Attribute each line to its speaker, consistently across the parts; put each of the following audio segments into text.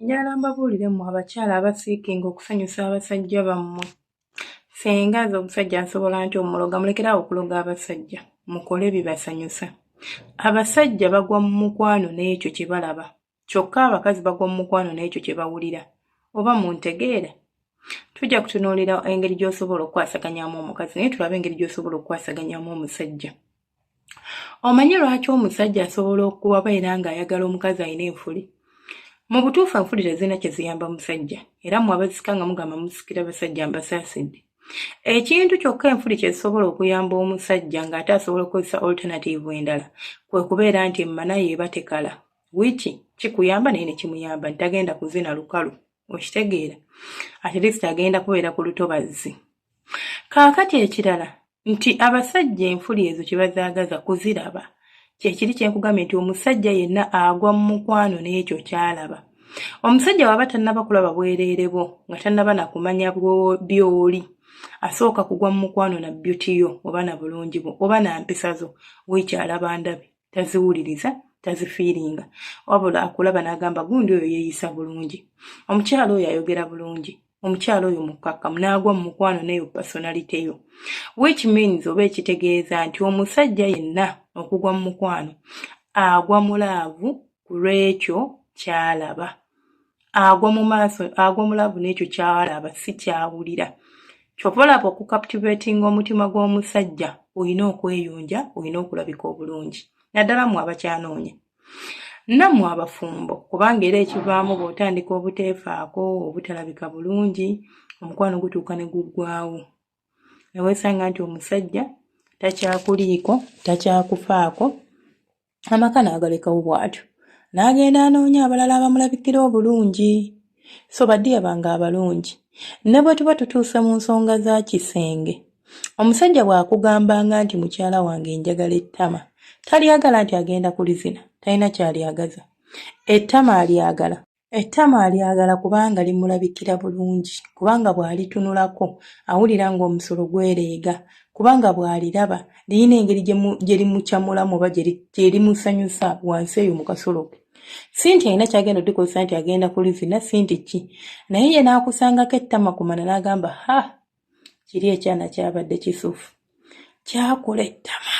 Speaker 1: njala mbabuulire mmwe abakyala abasiikinga okusanyusa abasajja bammwe senga aze omusajja nsobola nti omuloga mulekerawo okuloga abasajja mukole bibasanyusa abasajja bagwa mu mukwano n'ekyo kye balaba kyokka abakazi bagwa mu mukwano n'ekyo kye bawulira oba mu ntegeera tujja kutunuulira engeri gy'osobola okukwasaganyamu omukazi naye tulabe engeri gy'osobola okukwasaganyamu omusajja omanyi lwaki omusajja asobola okuwabeera ng'ayagala omukazi alina enfuli mu butuufu enfuli tezirina kye ziyamba musajja era mu abazika nga mugamba musikira basajja mbasaasidde ekintu kyokka enfuli kye zisobola okuyamba omusajja ng'ate asobola okukozesa alternative endala kwe kubeera nti emmana yeeba tekala wiki kikuyamba naye nekimuyamba nti tagenda kuzina lukalu okitegeera at least agenda kubeera ku lutobazzi kaakati ekirala nti abasajja enfuli ezo kyebazaagaza kuziraba kyekiri kyenkugambye nti omusajja yenna agwa mu mukwano n'ekyo kyalaba omusajja waba tannaba kulaba bwereere bwo nga tannaba nakumanya byoli asooka kugwa mu mukwano na byutiyo oba na bulungi bwo oba na mpisa zo wikyalaba ndabe taziwuliriza tazifiiringa wabula akulaba n'agamba gundi oyo yeeyisa bulungi omukyala oyo ayogera bulungi omukyala oyo mukkakkamu n'agwa mu mukwano neyo personality yo which means oba ekitegeeza nti omusajja yenna okugwa mu mukwano agwa mulaavu ku lw'ekyo kyalaba agwa mu maaso agwa mu laavu n'ekyo kyalaba si kyawulira kyova olaba okukaptivatinga omutima gw'omusajja olina okweyunja olina okulabika obulungi naddala mwe abakyanoonya nammwe abafumbo kubanga era ekivaamu bw'otandika obuteefaako obutalabika bulungi omukwano gutuuka ne guggwawo neweesanga nti omusajja takyakuliiko takyakufaako amaka n'agalekawo bw'atyo n'agenda anoonya abalala abamulabikira obulungi so badiya bange abalungi ne bwe tuba tutuuse mu nsonga za kisenge omusajja bw'akugambanga nti mukyala wange njagala ettama talyagala nti agenda kulizina talina kyalyagaza ettama alyagala Ettama alyagala kubanga limulabikira bulungi, kubanga bw'alitunulako awulira ng'omusolo gwereega, kubanga bw'aliraba lirina engeri gye limucamulamu oba gye limusanyusa wansi eyo mu kasolo ke. Si nti alina ky'agenda okulikozesa nti agenda kulizina, si nti ki, naye ye n'akusangako ettama ku mana n'agamba, Ha! Kiri ekyana kyabadde kisufu. Kyakula ettama.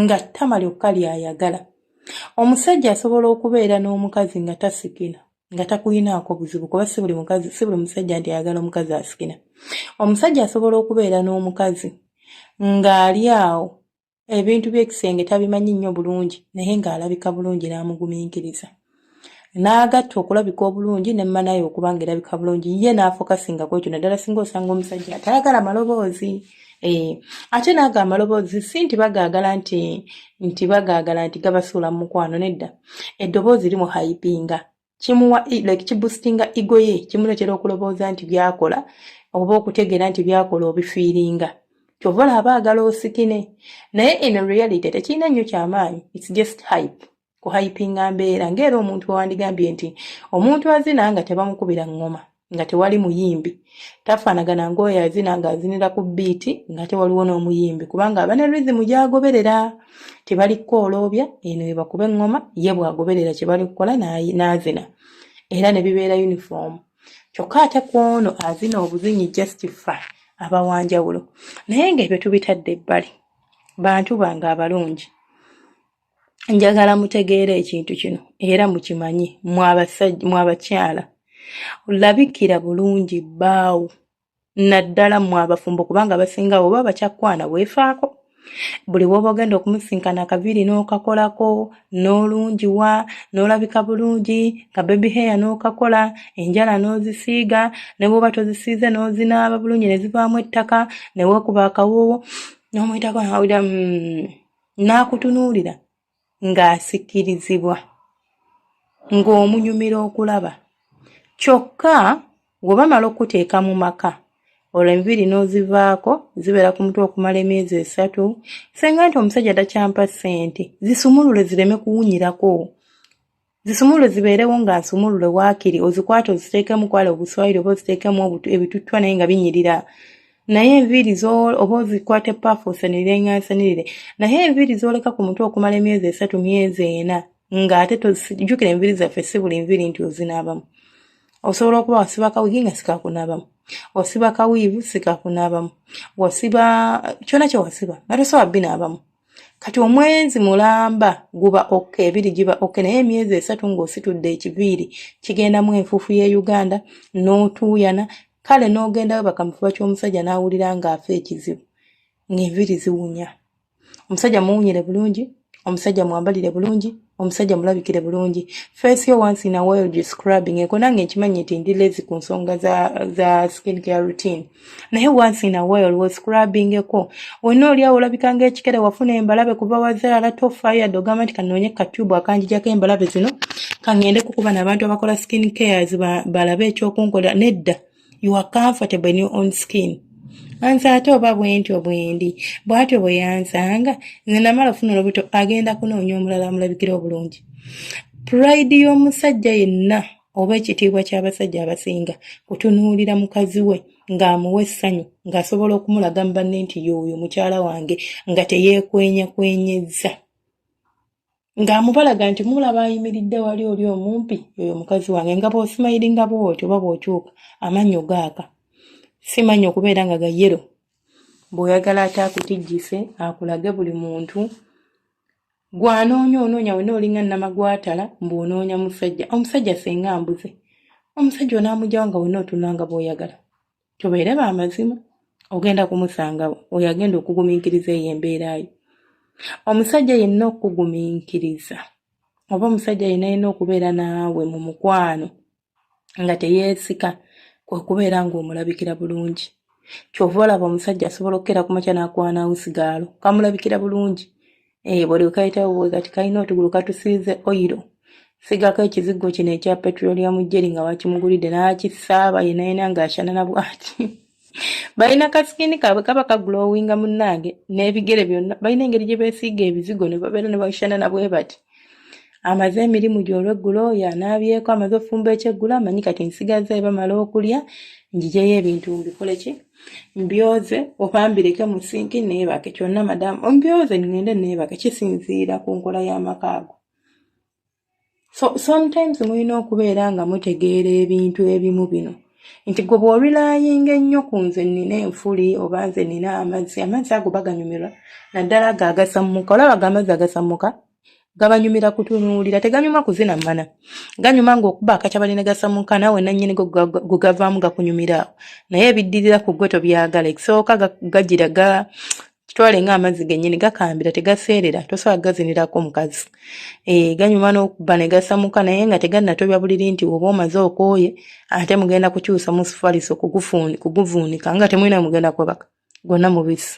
Speaker 1: nga ttama lyokka ly'ayagala. Omusajja asobola okubeera n'omukazi nga tasikina nga takulinaako buzibu kuba si buli mukazi si buli musajja nti ayagala omukazi asikina. Omusajja asobola okubeera n'omukazi ng'ali awo ebintu by'ekisenge tabimanyi nnyo bulungi naye ng'alabika bulungi n'amugumiikiriza. n'agatta okulabika obulungi ne mmanaye okuba nga erabika bulungi ye n'afokasinga ku ekyo naddala singa osanga omusajja atayagala maloboozi eh, ate naago amaloboozi si nti bagaagala nti nti bagaagala nti gabasuula mu mukwano nedda eddoboozi limu haipinga kimuwa like kibustinga igo ye kimuleetera okulobooza nti byakola oba okutegeera nti byakola obifiiringa kyova olaba agala osikine naye in reality tekirina nnyo kyamaanyi its just hype kuhayipinga mbeera ng'era omuntu wewandigambye nti omuntu azina nga tebamukubira ngoma nga tewali muyimbi tafaanagana ng'oyo azina ng'azinira ku biiti nga tewaliwo n'omuyimbi kubanga abane rizimu gyagoberera tebali kukooloobya eno ebakuba eŋŋoma ye bwagoberera kye bali kukola n'azina era ne bibeera yunifoomu kyokka ate ku ono azina obuzinyi justifa abawanjawulo naye ng'ebyo tubitadde ebbali bantu bange abalungi njagala mutegeera ekintu kino era mukimanye mwabakyala olabikira bulungi bbaawo naddala mwe abafumbo kubanga abasinga oba bakyakwana weefaako buli woba ogenda okumusinkana akaviiri n'okakolako n'olungiwa n'olabika bulungi ka bebi heya n'okakola enjala n'ozisiiga ne bwoba tozisiize n'ozinaaba bulungi ne zivaamu ettaka ne weekuba akawoowo n'omuyitako nawulira mm. n'akutunuulira ng'asikirizibwa ng'omunyumira okulaba kyokka gwe bamala okukuteeka mu maka olwo enviiri n'ozivaako zibeera ku mutwe okumala emyezi esatu senga nti omusajja takyampa ssente zisumulule zireme kuwunyirako zisumulule zibeerewo nga nsumulule waakiri ozikwata oziteekemu kwala obuswayiri oba oziteekemu ebituttwa naye nga binyirira naye enviiri oba ozikwata epaafu osanirire nga nsanirire naye enviiri z'oleka ku mutwe okumala emyezi esatu myezi ena ng'ate tozijukira enviiri zaffe si buli nviiri nti ozinaabamu osobola okuba wasiba kawigi nga sikakunaabamu wasiba kawiivu sikakunaabamu wasiba kyona kyewasiba nga tosobola binaabamu kati omwezi mulamba guba ok ebiri giba ok naye emyezi esatu ng'ositudde ekiviiri kigendamu enfuufu y'e uganda n'otuuyana kale n'ogendayo bakamufuba ky'omusajja n'awulira ng'afa ekizibu ng'enviiri ziwunya omusajja muwunyire bulungi omusajja mwambalire bulungi omusajja mulabikire bulungi face yo once in a while you scrubbing eko nange nkimanyi nti ndi lazy ku nsonga za, za skin care routine naye once in a while wo scrubbing eko wonna olyawo olabikanga ekikere wafuna embalabe kuva wazaala tofayo yadde ogamba nti kanoonye katubu akanjijako embalabe zino kangende kukuba nabantu abakola skin cares balabe ekyokunkolera nedda ba you are comfortable in your own skin anze ate oba bwentyo bwendi bwatyo bwe yanzanga nze namala ofuna olubuto agenda kunoonya omulala amulabikira obulungi purayidi y'omusajja yenna oba ekitiibwa ky'abasajja abasinga kutunuulira mukazi we ng'amuwa essanyu ng'asobola okumulaga mu banne nti yooyo mukyala wange nga teyeekwenyakwenyezza ng'amubalaga nti mulaba ayimiridde wali oli omumpi oyo mukazi wange nga bw'osimayiringa bw'oti oba bw'okyuka amannyo gaaka simanyi okubeera nga ga yero bw'oyagala ate akutijjise akulage buli muntu gwanoonya onoonya wena olinga namagwatala mbu onoonya musajja omusajja senga mbuze omusajja onaamujawo nga wena otunanga bwoyagala tubeere ba mazima ogenda kumusanga oyo agenda okugumiikiriza eyo embeera yo omusajja yenna okukugumiikiriza oba omusajja yenna yenna okubeera naawe mu mukwano nga teyeesika kwe kubeera ng'omulabikira bulungi kyova olaba omusajja asobola okukera ku makya n'akwana usigaalo kamulabikira bulungi eyo eh, buli kayitawo bwe kati kalina otugulu katusiize oyiro sigako ekizigo kino ekya petroleum jeri nga wakimugulidde nakisaaba yenayena nga ashanana bwati balina kasikini kaabwe kaba kaglowinga munnange n'ebigere byonna balina engeri gye beesiiga ebizigo ne babeera ne bashanana bwe bati amaze emirimu gy'olweggulo oyo anaabyeko amaze ofumba ekyeggulo amanyi kati nsigaza ebamala okulya njijeyo ebintu mbikole ki mbyoze oba mbireke mu sinki neebake kyonna madamu ombyoze ŋŋende neebake kisinziira ku nkola y'amaka ago so sometimes mulina okubeera nga mutegeera ebintu ebimu bino nti gwe bw'orilayinga ennyo ku nze nnina enfuli oba nze nnina amazzi amazzi ago baganyumirwa naddala ago agasammuka olaba ago amazzi agasammuka gabanyumira kutunuulira teganyuma kuzina mana ganyuma ngaokuba akakyabali negasamuka nawe nanyini gugavaamu gakunyumiraawo naye ebiddirira ku gwe tobyagala ekisooka gagira ga kitwale nga amazzi genyini gakambira tegaseerera tosobola gazinirako mukazi e, ganyuma nokuba negasamuka naye nga teganatobya buliri nti oba omaze okooye ate mugenda kukyusa musufaliso kuguvuunika nga temulina mugenda kwebaka gonna mubisi